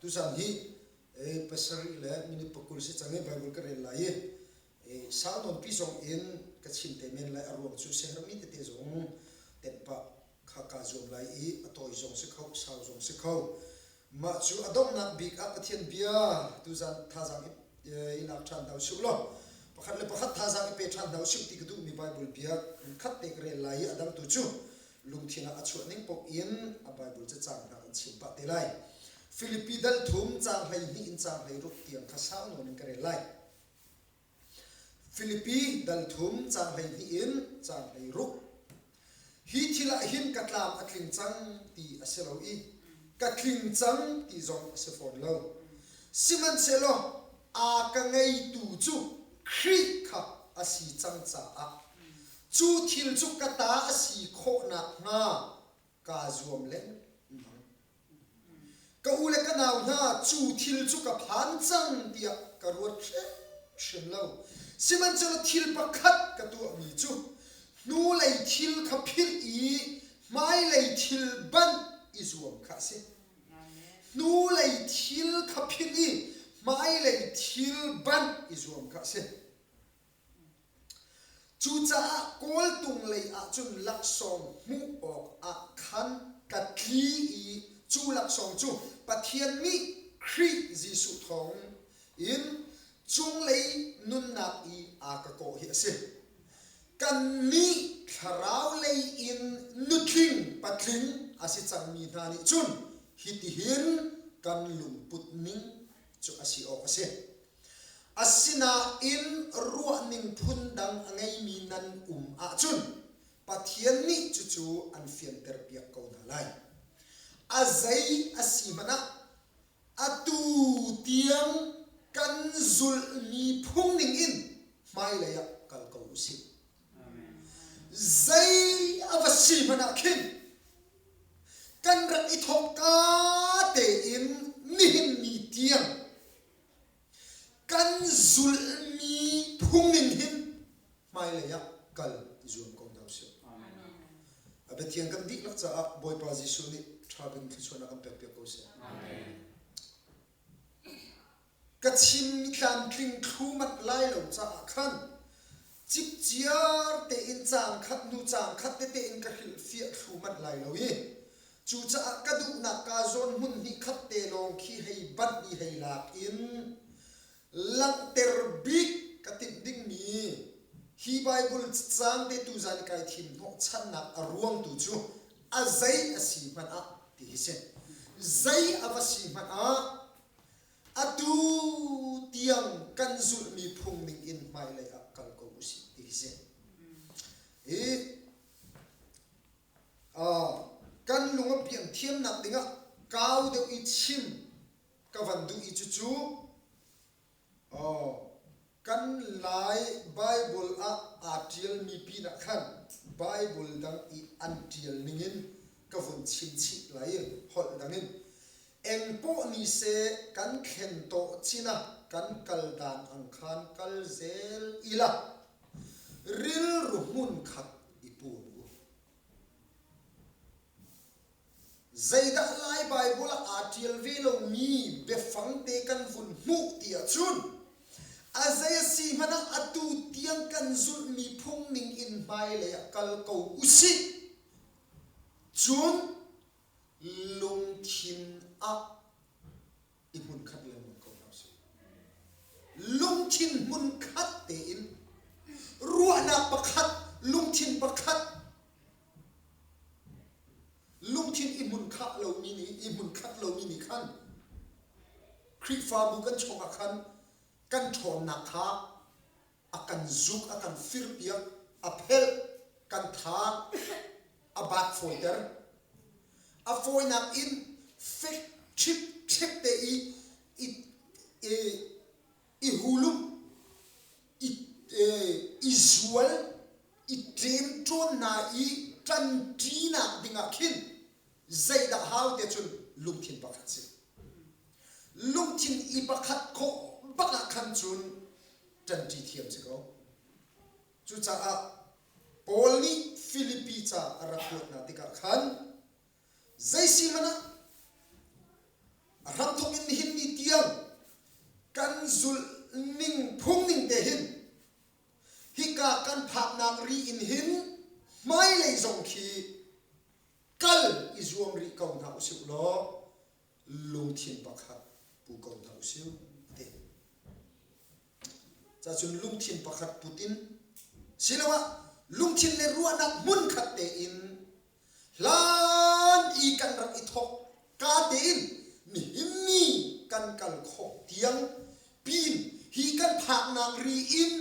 Tuchan hi pasarih le minute pakul si cang i Baibal ka rel lai i sang nawnpi zong in ka chim te men lai a ruang cu sehrami tete zong tempah kha kaa zuam lai i a tawi zong si kho sau zong si kho mah cu a donghnak bik ah Pathian bia tuzan thazang i lak ṭhan hau si law pakhat le pakhat thazang i pe ṭhan hau si ti ka duhmi Baibal bia khat te ka rel lai i a dang tu cu lungthin ah a chuah ning paoh in a Baibal cu caang hna an chim pah te lai. Filipi dal thum caang hlei hnih in caang hlei ruk tiang kha sau nawn in ka rel lai. Filipi dal thum caang hlei hnih in caang hlei ruk. Hi thil ah hin ka tlam a tling cang ti a si lo i ka tling cang ti zong a si fawn lo. Sihmanhsehlaw aa ka ngeitu cu Khrih kha a si cang caah Cu thil cu ka ta a si khawh nakhnga kaa zuam lengmang. Ka u le ka nau hna, cu thil cu ka phan cang tiah ka ruat hrimhrim lo. Sihmanhsehlaw thil pakhat ka tuahmi cu, hnulei thil kha philh i hmailei thil banh i zuam kha a si. Hnulei thil kha philh i hmailei thil banh i zuam kha a si. Cucaah kawltung lei ahcun laksawng hmuh awkah khan ka thli i cu laksawng cu Pathian nih Khrih Jesuh thawngin cunglei nunnak i aa ka kawh hi a si. Kannih thlarau lei in nutling patling a si cangmi hna nih cun hitihin kan lungput ning cu a si awk a si. Asinain ruahning phundang a ngeimi nan um ahcun Pathian nih cucu an fianter piak ko hna lai. A zei a si hmanh ah atu tiang kan zulhmi phung ning in hmailei ah kal ko usih. Zei a va si hmanh ah khin kan rak i thawk ka tein nihin ni tiang kan zulmi phung in hin hmailei ah kal i zuam ko hna usih. A Pathian kan dihlak caah Bawipa Jesuh nih thabin thluachuahnak kan pekpiak ko sih. Ka chimmi tlamtling thlumat lai lo caah khan Cikciar tein caangkhat hnu caangkhat tete in ka hrilhfiah thlu manh lai lo i cucaah ka duhnak kaa zawn hmun hnih khat te lawng khi hei banh i hei lak in langhter bik ka timh dingmi hi Baibal cacang te tuzan i kai thim hnawhchannak a ruangtu cu a zei a si hmanh ah ti hi si. Zei a va si hmanh ah atu tiang kan zulhmi phung ning in hmailei ah kal ko usih ti hi si. I kan lung a piang thiamnak dingah kau deuh i chim ka van duh i cucu Kan Lai Baibal ah aa ṭialmi pinah khan Baibal dang i an ṭial ningin ka vun chimchih lai i holh dangin engpawh ni seh kan thlen tawh cinah kan kal dan ang khan kal zel ila rilru hmunkhat i pum u. Zeidah Lai Baibal ah aa ṭial ve lomi biafang te kan vun hmuh ti ahcun a zei a si hmanh ah atu tiang kan zulhmi phungning in hmailei ah kal ko usih. Cun lungthin ah i hmunkhat lengmang ko hlah usih. Lungthin hmunkhat tein ruahnak pakhat, lungthin pakhat lungthin i hmun khah lomi nih i hmun khat lomi nih khan Khrihfabu kan chungah khan kan ṭhawnnak kha a kan zuk, a kan firpiak, a phelh, kan thah, a bat fawiter. A fawinak in fek ṭhit ṭhek te i i i, i hulum, i, e, i zual, i ṭem ṭawn hna i ṭanṭinak dingah khin zeidah hau te cun lungthin pakhat si lungthin i pakhat khawh bak ah khan cun ṭanṭi thiam si ko cucaah Paul nih Filipi ca a rak kuat hna tikah khan zei si hmanh ah hramthok in nihin ni tiang kan zulh ning phung ning te hin hika kan phaknak ri in hin hmailei zong khi kal i zuam rih ko hna usih law lungthin pakhat pu ko hna usih ti cacun lungthin pakhat put in siloah lungthin le ruahnak hmun khat tein hlan i kan rak i thawk ka tein mihimmi kan kal khawh tiang pin hi kan phaknak ri in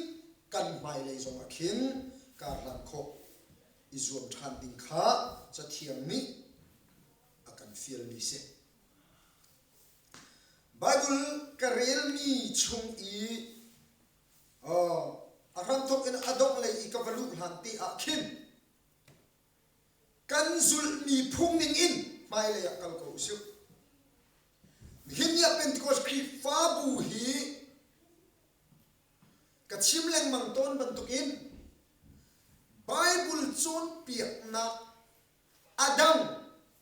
kan hmailei zong ah khin kar hlan khawh i zuam ṭhan ding kha Cathiang nih a kan fialmi si. Baibal ka relmi chung i a hramthok in a dongh lei i ka va luh hlan te ah khin kan zulhmi phung ning in hmailei ah kal ko usih. Nihin ni ah Pentecost Khrihfabu hi ka chim lengmang tawn bantukin Baibal cawnpiaknak a dang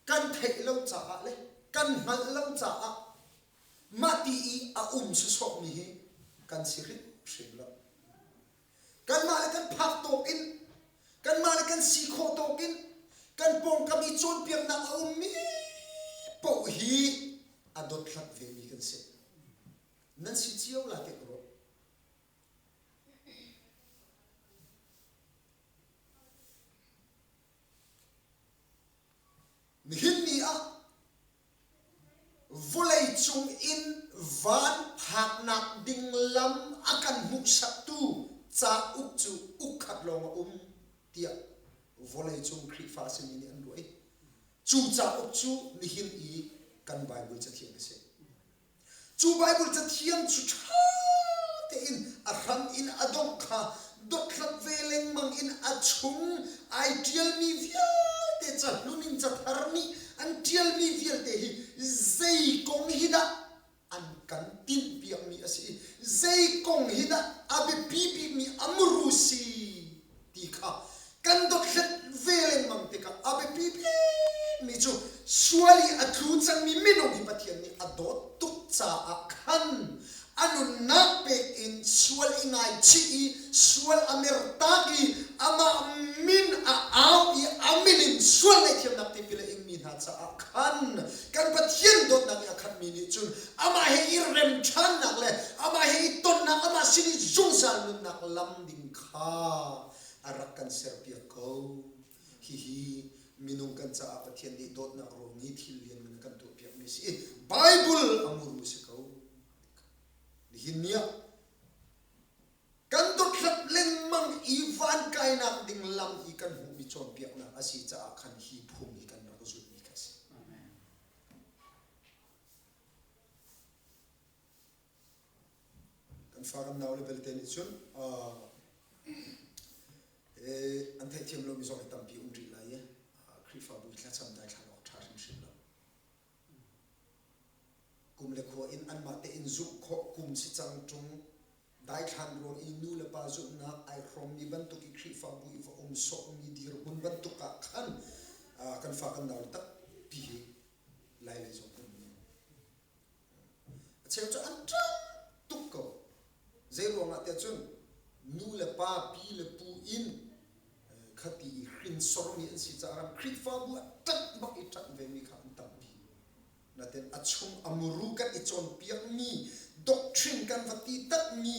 kan theih lo caah le kan hngalh lo caah mah ti i a um sawsawkmi hi kan si hrimhrim lo. Kanmah le kan phak tawk in, kanmah le kan si khawh tawk in, kan pawngkam i cawnpiaknak a ummi paoh hi a dothlat vemi kan si. nan si cio la tik ruh. Nihin ni ah vawlei cung in van phaknak ding lam a kan hmuhsaktu cauk cu ukhat lawng a um tiah vawlei cung Khrihfa a simi nih an ruah i cu cauk cu nihin i kan Baibal cathiang a si. Cu Baibal cathiang cu ṭha tein a hram in a dongh kha dothlat ve lengmang in a chung ai ṭialmi vialte cahlun in cathar nih an ṭialmi vialte hi zei kong hi dah an kan timhpiakmi a si i zei kong hi dah a biapi bikmi a muru si ti kha kan dothlet ve lengmang tikah a biapi mi cu sual i a tlu cangmi minung hi Pathian nih a dawt tuk caah khan a nunnak pek in sual i ngaichih i sual a mertak i amah min a au i a milin sual ngaihthiamnak tipil a ingmi hna caah khan kan Pathian dawtnak i a khatmi nih cun amah he i rem ṭhannak le amah he i tonnak amah sin i zungzal nunnak lam ding kha kha a rak kan serpiak ko. Hihi minung kan caah Pathian nih dawtnak rawhmi thil lianman a kan tuahpiakmi a si i Bible a murmu si ko. Nihin ni ah kan dothlat lengmang i van kainak ding lam hi kan hmuhmi cawnpiaknak a si caah khan hi phung hi kan rak zulhmi kha a si. Kan fa kan nau le belte nih cun an theihthiam lomi zong hi tampi um rih lai i Khrihfabu thlacam dai thlak awk ṭha hrimhrim lo. Kum le khua in anmah tein zumh khawh kum si cang ṭung daithlan ruang i nu le pa zumhnak ai hrawmmi bantuk i Khrihfabu i va um sawhmi dirhmun bantuk ah khan kan fa kan nau le takpi hi lai le zong an ni a cheu cu an ṭang tuk ko zei ruangah tiah cun nu le pa pi le pu in khati i hrinsormi an si caah ram Khrihfabu a ṭanh bak i ṭanh vemi kha an tampi naten a chung a muru kan i cawnpiakmi doctrine kan va ti tatmi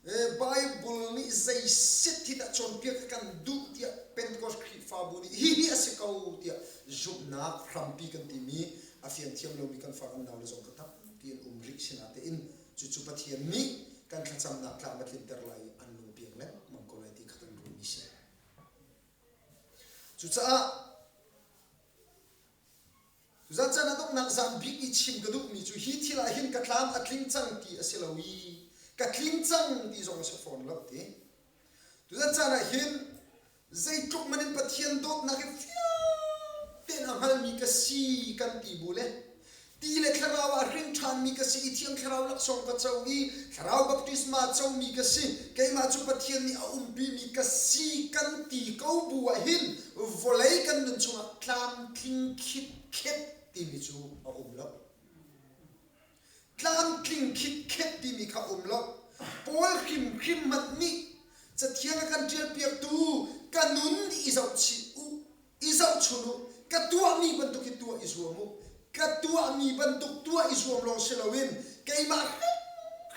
Bible nih zei set hi dah cawnpiak kan duh tiah Pentecost Khrihfabu nih hihi a si ko tiah zumhnak hrampi kan timi a fianthiam lomi kan fa kan nau le zong kha tampi an um rih sinah tein cucu Pathian nih kan thlacamnak tlam a tlinter lai i an lungpiak lengmang ko lai ti kha kan ruahmi si. Cucaah Zacan a donghnak zaam bik i chim ka duhmi cu hi thil ah hin ka tlam a tling cang ti a si lo i ka tling cang ti zong a si fawn lo ti. Tutan caan ah hin zeitluk man in Pathian dawtnak hi fiang tein a hngalmi ka si kan ti bu le ti le thlarau ah hrin ṭhanmi ka si i thiang thlarau laksawng ka co i thlarau baptisma comi ka si keimah cu Pathian nih a umpimi ka si kan ti ko bu ah hin vawlei kan nun chungah tlamtling khitkhet timi cu a um lo tlamtling khitkhet timi kha um lo paul hrimhrim hmanh nih cathiang a kan ṭialpiaktu ka nun i zohchih u i zohchun u ka tuahmi bantuk hi tuah i zuam u ka tuahmi bantuk tuah i zuam lawng si loin keimah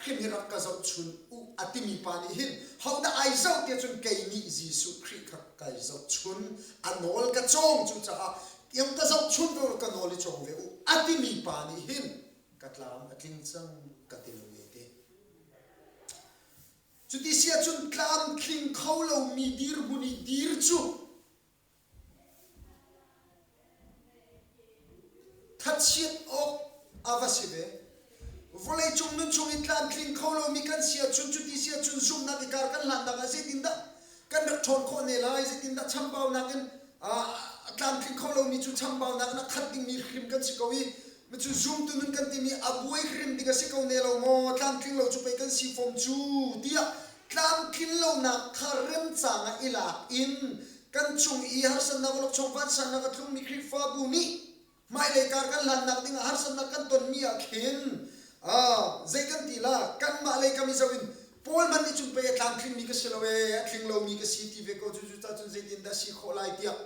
hrimhrim hi rak ka zohchun u a timi pa nih hin hodah ai zoh ti cun kei nih Jesuh Khrih kha kai zohchun a nawl ka cawng cu caah yang ka zohchun ve ka nawl i cawng ve u a timi pa nih hin ka tlam a tling cang ka ti lo ve te cuti sia cun tlam tling kho lomi dirhmun i dir cu Thatchiat awk a va si ve. Vawleicung nun chung i tlamtling kho lomi kan si ahcun cuti si ahcun zumhnak i kar kan hlannak ah zeitindah kan rak ṭhawn khawh ne lai zeitindah chambaunak in a tlamtling kho lomi cu chambaunak in a khat dingmi hrim kan si ko i Cucu zumtu nun kan timi a buai hrim ding a si ko ne lo maw, tlamtlinglo cu pei kan si fom cu tiah tlamtlinlonak kha remcang ah i lak in kan chung i harsatnak awlok chung vansangnak a tlungmi Khrihfabu nih hmailei kar kan hlannak dingah harsatnak kan tonmi ah khin zei kan ti la kanmah lei kam i zoh in Paul hmanh nih cun pei a tlamtlingmi ka si lo ee a tlinglomi ka si ti ve ko cu cucacun zeitin dah si khawh lai tiah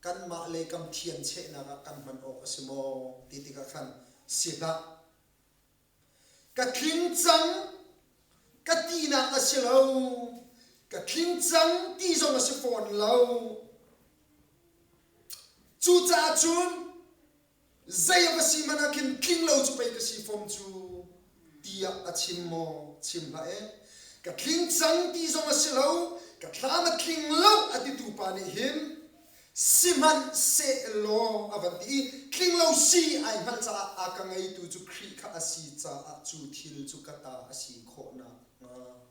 kanmah le kan thian chehnak ah kan hman awk a si maw ti tikah khan si hlah ka tling cang ka tinak a si lo ka tling cang ti zong a si fawn lo cucaah cun zei a va si hmanh ah khin tlinglo cu pei ka si fom cu tiah a chim maw chim hlah e ka tling cang ti zong a si lo ka thlam a tling lo a titu pa nih hin sihmanhsehlaw a van ti i tlinglo si ai hngalh caah a ka ngeitu cu Khrih kha a si caah cu thil cu ka ta a si khawh nakhnga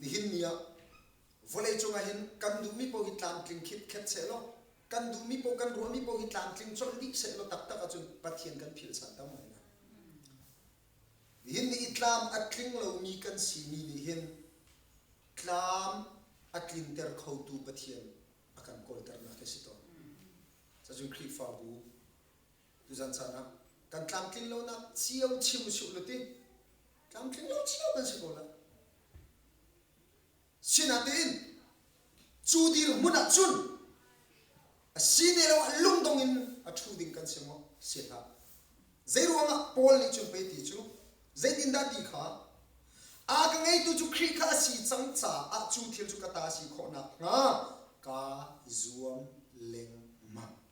Nihin ni ah vawleicung ah hin kan duhmi paoh hi tlamtling khet seh law, kan duhmi paoh, kan ruahmi paoh hi tlamtling colh dih seh law taktak ahcun Pathian kan philhsan tam lai na. Nihin ni i tlam a tling lomi kan simi nih hin tlam a tlinter khotu Pathian a kan kawlternak hi si tawn. Cacun Khrihfabu Tuzan sanah kan tlamtlin lonak cio chim suk le ti tlamtlin lo cio kan si ko la sinatein cu dir hmun ah cun a sine lo ah lungdong in a thu ding kan si maw si hlah zei ruang ah paul nih cun pei ti cu zeitin dah ti kha a ka ngeitu cu khrih kha a si cang ca ah cu thil cu ka ta si khawh nak hnga ka zuam lengmang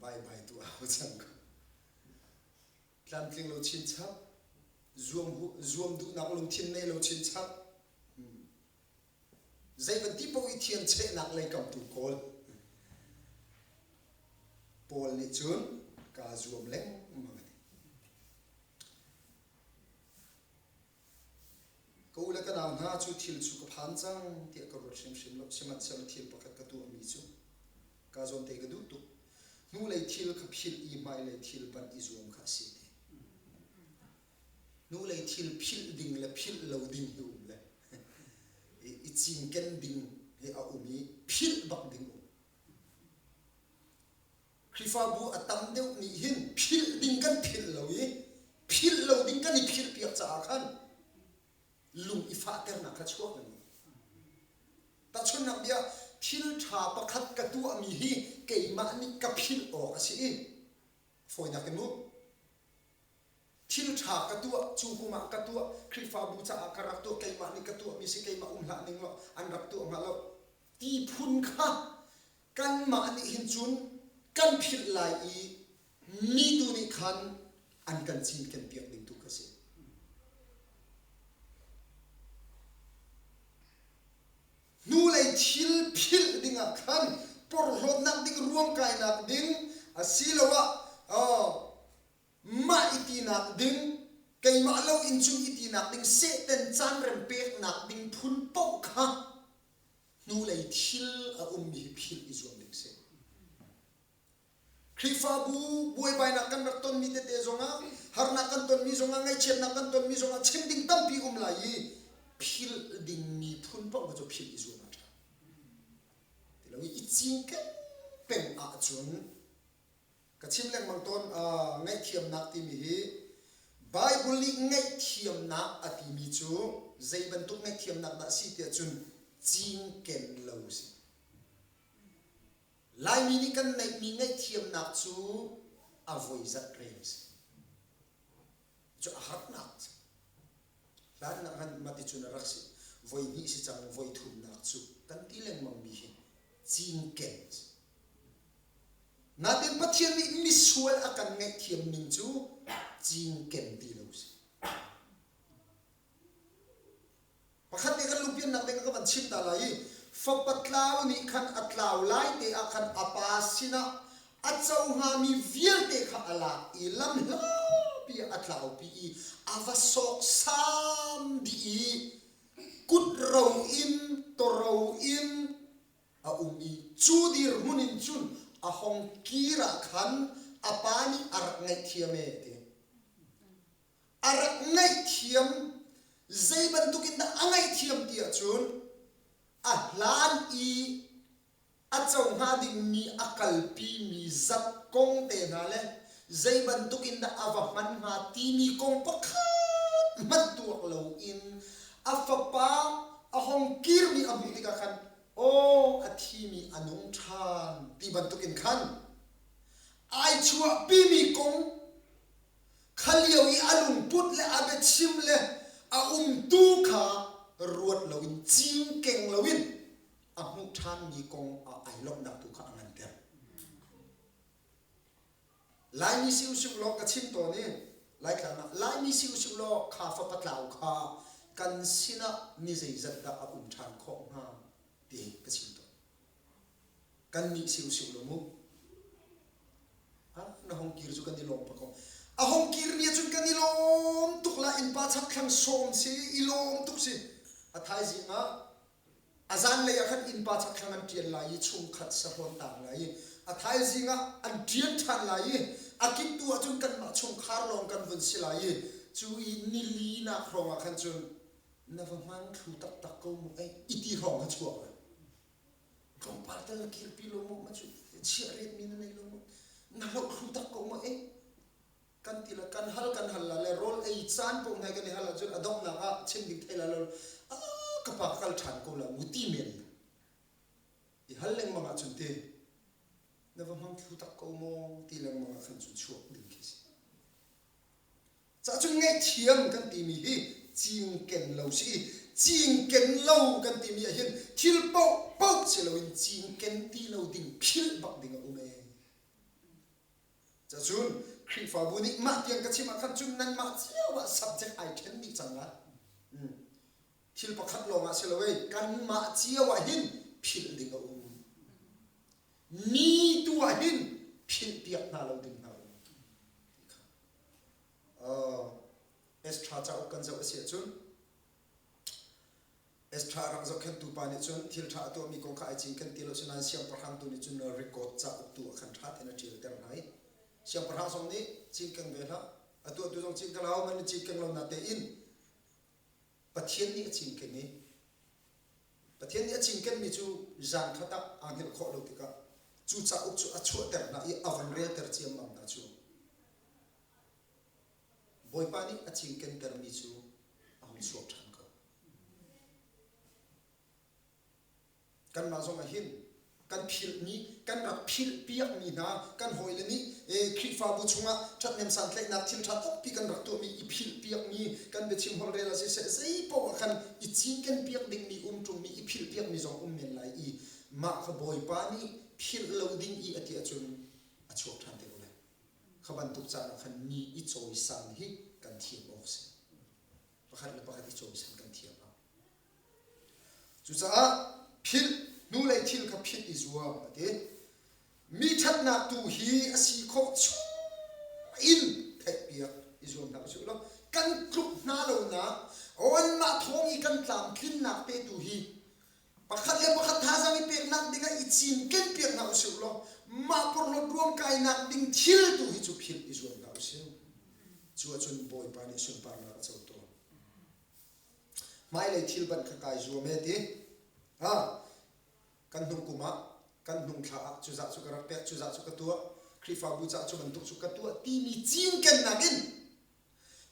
baibai tu au chan ko tlamtling lo chin chap zuam zuam duh nak lungthin nei lo chin chap zei va ti po i thian che nak lei kam tu kawl paul nih cun ka zuam leng mang Ka u le ka nau hna cu thil cu ka phan cang tiah ka ruat hrimhrim lo. Sihmanhsehlaw thil pakhat ka tuahmi cu kaa zuam te ka duh tuk. Hnulei thil kha philh i hmailei thil banh i zuam kha a si te. Hnulei thil philh ding le philh lo ding hi um le i, i cinken ding hi a um i philh bak ding um. Khrihfabu a tam deuh nih hin philh ding kan philh lo i philh lo ding kan i philhpiak caah khan lung i fahternak kha chuak in tahchunhnak bia thil ṭha pakhat ka tuahmi hi keimah nih ka philh awk a si i fawinak in mu. thil ṭha ka tuah, cu kum ah ka tuah, Khrihfabu caah ka rak tuah, keimah nih ka tuahmi si, keimah um hlah ning law an rak tuah hnga lo ti phun kha kanmah nih hin cun kan philh lai i mi tu nih khan an kan cinken piak ding tu ka si. Hnulei thil philh dingah khan porhlawtnak ding, ruamkainak ding asiloah mah i tinak ding keimah lo in chung i tinak ding Satan caan rem peknak ding phun paoh kha hnulei thil a ummi hi philh i zuam ding si. Khrihfabu buaibainak kan rak tonmi tete zongah harnak kan tonmi zongah ngaihchiatnak kan tonmi zongah chim ding tampi um lai i philh dingmi phun paoh cu philh i zuam a ṭha. Ti lo i i cingkeng peng ah cun ka chim lengmang tawn ngaihthiamnak timi hi Baibal nih ngaihthiamnak a timi cu zei bantuk ngaihthiamnak dah a si tiah cun cingken lo a si Laimi nih kan neihmi ngaihthiamnak cu a voizat reng a si cu a harnak a si. Hlannak han mati cun a rak si. Voi hnih si cang, voi thumnak cu kan ti lengmang mi hi cinken a si. Natin Pathian nih misual a kan ngaihthiam ning cu cinken ti lo si. Pakhat nih kan lungpiannak ding ka van chimh hna lai i fapa tlau nih khan a tlau lai te ah khan a pa sinah a co hngami vialte kha a lak i lam hlapi ah a tlaupi i a va sawksam dih i kut ro in tawro in a um i cu dirhmun in cun a hong kir ah khan a pa nih a rak ngaihthiam ee a ti. a rat ngaihthiam zei bantuk in dah a ngaihthiam ti ahcun a hlan i a co hnga dingmi a kalpimi zat kong te hna le zei bantuk in dah a va hman hnga timi kong pakhat hmanh tuak lo in a fapa a hong kir nih a hmuh tikah khan aw a thimi a nung ṭhan ti bantuk in khan ai chuahpimi kong Kha lio i a lungput le a biachim le a umtu kha ruat loin cingkeng loin a hmuh ṭhanmi kong ai lawmhnak tu kha a nganter. Laimi si usih law ka chim tawn i Laitlang ah Laimi si usih law kha fapa tlau kha kan sinah ni zeizat dah a um ṭhan khawh hnga ti ka chim tawn. kan nih siu siu lo mu ha na hong kir cu kan i lawm pako a hong kir ni cun kan i lawm tuk la innpa chap thlang sawm si i lawm tuk si a thaizing ah a zan lei ah khan innpa chap thlang an ṭian lai i chungkhat sahrawn taang lai i a thaizing ah an ṭian ṭhan lai i a kip tu ah cun kanmah chungkhar lawng kan vun si lai i cu i nili nak hrawng ah khan cun na va hmang thlu taktak ko mu ei i ti hrawng ha chuak la Tlawmpal tal kirpi lo maw ma cu chiah renmi na nei lo maw na hlokthlu tak ko maw eh kan ti le kan hal kan hal la le rawl ei caan pom hai kan i hal ahcun a donghnak ah chimdik thei la lo a ka pa ka kal ṭhan ko la mu ti men i hal lengmang ahcun ti na va hmang thlu tak ko maw ti lengmang ah khan cun chuak ding khi si Cahcun ngaihthiam kan timi hi cinken lo si i cinken lo kan timi ahhin thil paohpaoh si loin cinken ti lo ding philh bak ding a um ee. Cahcun Khrihfabu nih mah tiang ka chim ahkhan cun nanmah cio ah subject ai ṭhen dih cang lai. Hmm. Thil pakhat lawng ah si lo ee, kanmah cio ahhin philh ding a um. Mi tu ahhin philh piak hna lo ding hna um. Estra cauk kan zoh a si ahcun Estra rang zohkhenhtu pa nih cun thilṭha a tuahmi kong kha ai cinken ti lo sinain siangpahrang tu nih cun record cauk tu a khan ṭha tiin a ṭialter hna i siangpahrang zong nih cinken ve hlah a tuahtu zong cinken hlah man in cinken lo na tein Pathian nih a cinken i Pathian nih a cinkenmi cu zangkhat ah aa hngilh khawh lo tikah cu cauk cu a chuahter hna i a van relter ciammam hna cu. Bawipa nih a cinkenter mi cu a hung chuak ṭhan ko. Kanmah zong ah hin kan philhmi, kan rak philhpiakmi hna kan hawile nih Khrihfabu chungah ṭhatnem santlaihnak thil ṭha tampi kan rak tuahmi i philhpiakmi kan biachim holhrel ah siseh zei paoh ah khan i cinken piak dingmi um ṭungmi i philhpiakmi zong um men lai i mah kha Bawipa nih philh lo ding i a ti ahcun a chuak ṭhan te ko lai. Kha bantuk caan ah khan mi i cawisan hi kan thiam awk a si. Pakhat le pakhat i cawisan kan thiam hlah. Cucaah philh hnulei thil kha philh i zuam a ti. Mi ṭhatnak tu hi a si khawh chung in theihpiak i zuam hna usih law kan tluk hna lonak awanmah thawng i kan tlamtlinnak te tu hi pakhat le pakhat thazaang i peknak ding ah i cinken piak hna usih law mah porhlawt ruam kainak ding thil tu hi cu philh i zuam hna usih. Cu ahcun Bawipa nih sunparnak a co tawn. hmailei thil banh kha kai zuam e ti ha kan hnung kum ah kan hnung thla ah cuzah cu ka rak peh cuzah cu ka tuah Khrihfabu cah cu bantuk cu ka tuah timi cinkennak in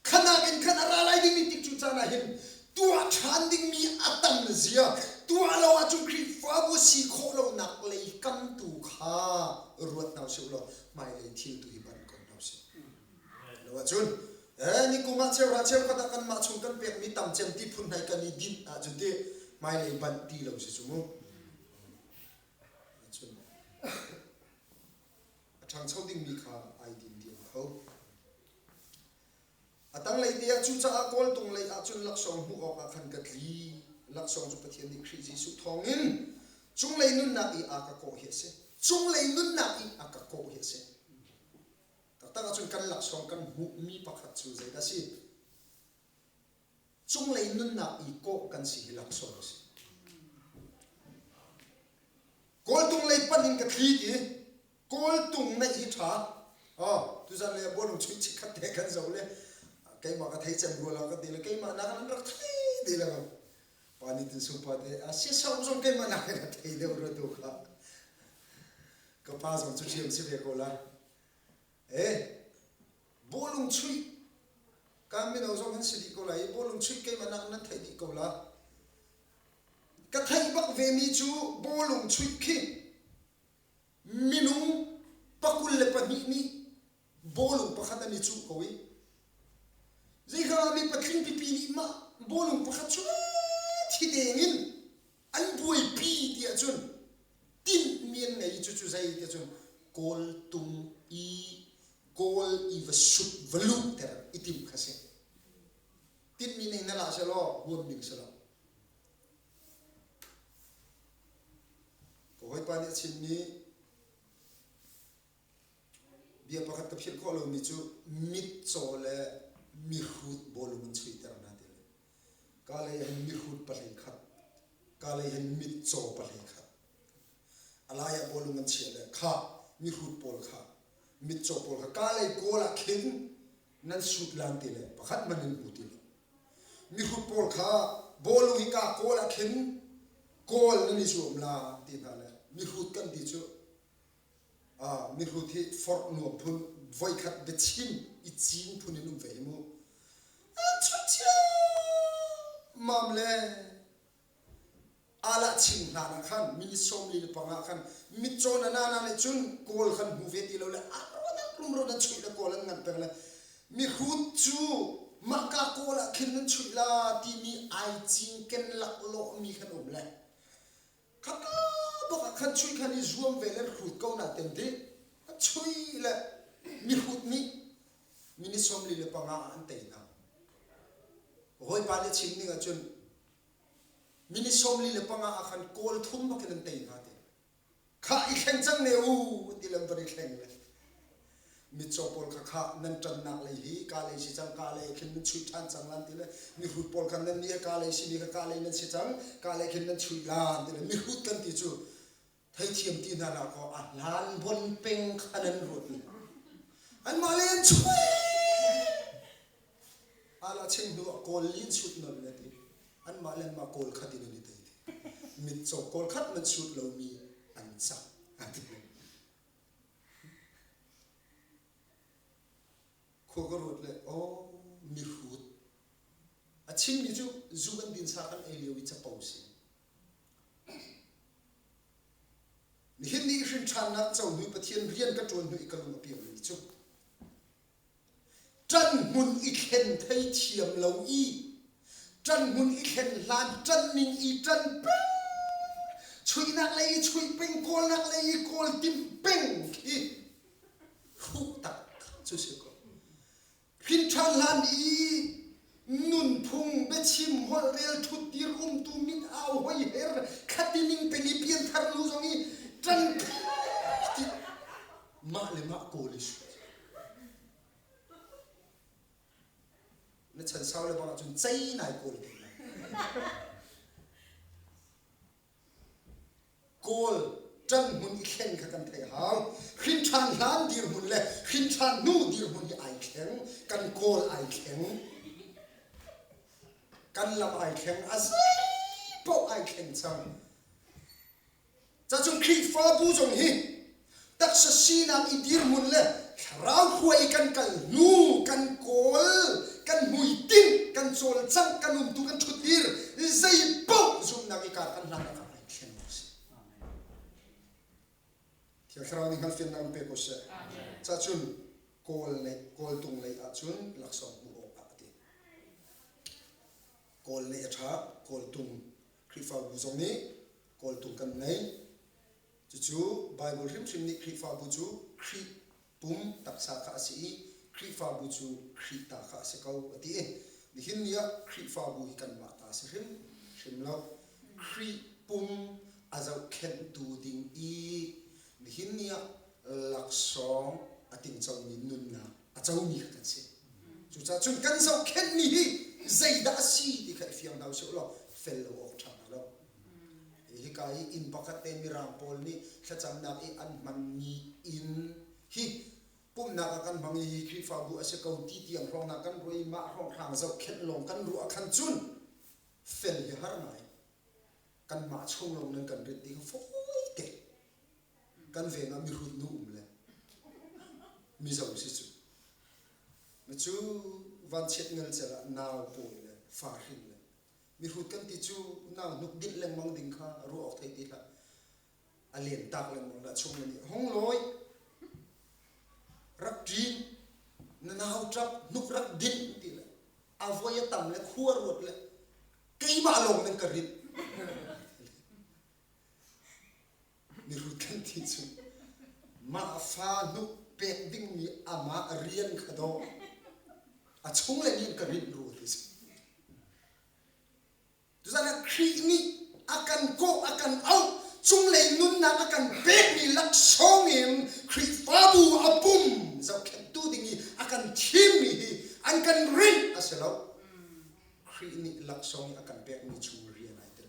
khanak in khan a ra lai dingmi tik cu caan ah hin tuah ṭhan dingmi a tam zia tuah lo ahcun Khrihfabu si khawh lonak lei kamtu kha ruat hna usih ulaw hmailei thil tu hi ban ko hna usih Lo ahcun nikum ah cheuhra cheukhat ah kanmah chung kan pekmi tam cem ti phun hnai kan i dinh ahcun ti hmailei banh ti lo si cu mu. Ahcun a ṭhangcho dingmi kha ai din diam kho. A tanglei te ah cucaah kawltung lei ahcun laksawng hmuh awkah khan ka tli. Laksawng cu Pathian nih Khrih Jesuh thawngin cunglei nunnak i a ka kawh hi a si. Cunglei nunnak i a ka kawh hi a si. Taktak ahcun kan laksawng kan hmuhmi pakhat cu zeidah a si? Cunglei nunnak i kawh kan si hi laksawng a si. Kawltung lei pan in ka thlit i kawltung neih hi ṭha. Oh, tuzan le buanung chuih chi khat te kan zo le keimah ka thei cem rual ah ka te le keimah nak an rak thei te le ko. pa nih tin supa te a si sau zong keimah nak in a thei deuh rua tu kha ka pa zong cu ṭhiam si ve ko la eh bawlung chuih ka mino zong an si dih ko la i bawlung chuih keimah nak in an theih dih ko la ka theih bak ve mi cu bawlung chuih khi minung pakul le pahnih nih bawlung pakhat an i cuh ko i zeikal ah mi patling pipi nih mah bawlung pakhat cu thi deng in an buaipi tiah cun tinhmi an ngei cu cu zei tiah cun kawl tung i kawl i va sup va luhter i tim kha si tinhmi ning na la selaw huam ning selaw ka hawipa nih a chimmi Bia pakhat ka philh khawh lomi cu mitcaw le mihrut bawlung in chuihter hna ti le ka lei hin mihrut pahlei khat ka lei hin mitcaw pahlei khat a lai ah bawlung an chiah le kha mihrut pawl kha mitcaw pawl kha ka lei kawl ah khin nan sut lan ti le pakhat man in hmu ti le mihrut pawl kha bawlung hi ka kawl ah khin kawl nan i zuam la ti hna le mihrut kan ti cu Mihlut hi forh nuam phun voikhat biachim i cin phun in um ve hi mu. Mam le ala ching hna na khan mini somli le panga khan mitcaw na na na le cun kawl khan hmu ve ti lo le arwan akrum ron a chuih le kawl an ngan peng le mi hrut cu mahka kawl ah khin nan chuih la timi ai cing ken lak law mi khan um le khaka bak ah khan chui khan i zuam ve le hrut ko na ten ti a chui le mihrut nih mini sawmli le panga ah an tei hna hawipa nih chim ning ahcun mini sawmli le panga ah khan kawl thum bak in an tei hna ti khah i thleng cang ne u ti le an van i thleng le mitcaw pawl kha khah nan ṭannak lei hi ka lei si cang ka lei khin nan chuih ṭhan cang lan ti le mihrut pawl khan nan nih a ka lei si ni kha ka lei nan si cang ka lei khin nan chuih lan ti le mihrut kan ti cu theithiam ti hna hna kaw a hlan bon peng kha nan ruat an mah le an chuai ala cheng hnu ah kawl lin chut non le ti an mah le an mah kawl khat in ni te mitcaw kawl khat nan chut lomi an cak an ti Khua ka ruat le, aw, mihrut. A chimmi cu zu kan dinsa kan ei lio i capo si. Nihin ni hrinṭhannak co hnu i Pathian rian ka ṭuan hnu i ka lung a piangmi cu Ṭan hmun i thlen thei thiam lo i ṭan hmun i thlen hlan ṭanning i ṭan peng chuihnak lei i chuih peng kawlnak lei i kawl tim peng khi hruh taktak cu si ko hrin ṭhan hlan i nunphung biachim holh rel ṭhut dir umtu mit au hoi her khatining peng i pianthar lu zong i ṭan Mah le mah polish. Na chan sau le bang ahcun cei nai kawl ding lai. Kawl ṭang hmun i thleng kha kan thei hang. Hrinṭhan hlan dirhmun le hrinṭhan hnu dirhmun hi ai thleng. Kan kawl ai thleng. Kan lam ai thleng. A zei paoh ai thleng cang. Cacung Khrihfabu zong hi taksa sinak i dirhmun le thlarau khua i kan kal hnu kan kawl, kan hmuitinh, kan cawlcangh, kan umtu kan ṭhutdir zei paoh zumhnak i kar kan hlan rakah ai thlen awk a si. Thiang Thlarau nih hngalhfiannak in pe ko seh. Cacun kawl lei kawltung lei ahcun laksawng hmuh awkah a ti. Kawl lei a ṭha, kawltung Khrihfabu zong nih kawltung kan ngei. Cucu Baibal hrimhrim nih Khrihfabu cu Khrih pum taksa kha a si i Khrihfabu cu Khrih ta kha a si ko a ti i nihin ni ah Khrihfabu hi kanmah ta si hrimhrim lo Khrih pum a zohkhenhtu ding i nihin ni ah laksawng a ting cangmi nunnak a comi kha kan si cucaah cun kan zohkhenhmi hi zeidah a si ti kha i fiang hau sih law fel lo awk ṭha lo hika i inn pakhat te mirang pawl nih thlacamnak i an hmanmi inn hi pumhnak ah kan hmang hi khrihfabu a si ko ti tiang hrawngnak kan ruai mah hrawnghrang zohkhenh lawng kan ruah khan cun fel hi har ngai kanmah chung lawng nan kan rit ti kha fawi te kan veng ah mihrut nu um le mizo si cu na cu vanchiat ngal cer ah nau pawi le fa hrin le mihrut kan ti cu nau hnuk dinh lengmang ding kha a ruah awk thei ti hlah a len tak lengmang dah chung le nih hong loi rak ṭin na nau ṭap hnuk rak din ti le avoi a tam le khua ruat le keimah lawng nan ka rit milu ṭhanthi cu mah fa hnuk pek dingmi amah rian kha dawh a chungle nih ka rinh rua ti si. Cucaah Khrih nih a kan kawh, a kan auh, cunglei nunnak a kan pekmi laksawng in Khrihfabu a pum zohkhenhtu ding i a kan thimmi hi an kan rinh a si lo. Khrih nih laksawng i a kan pekmi chung rian ai tel.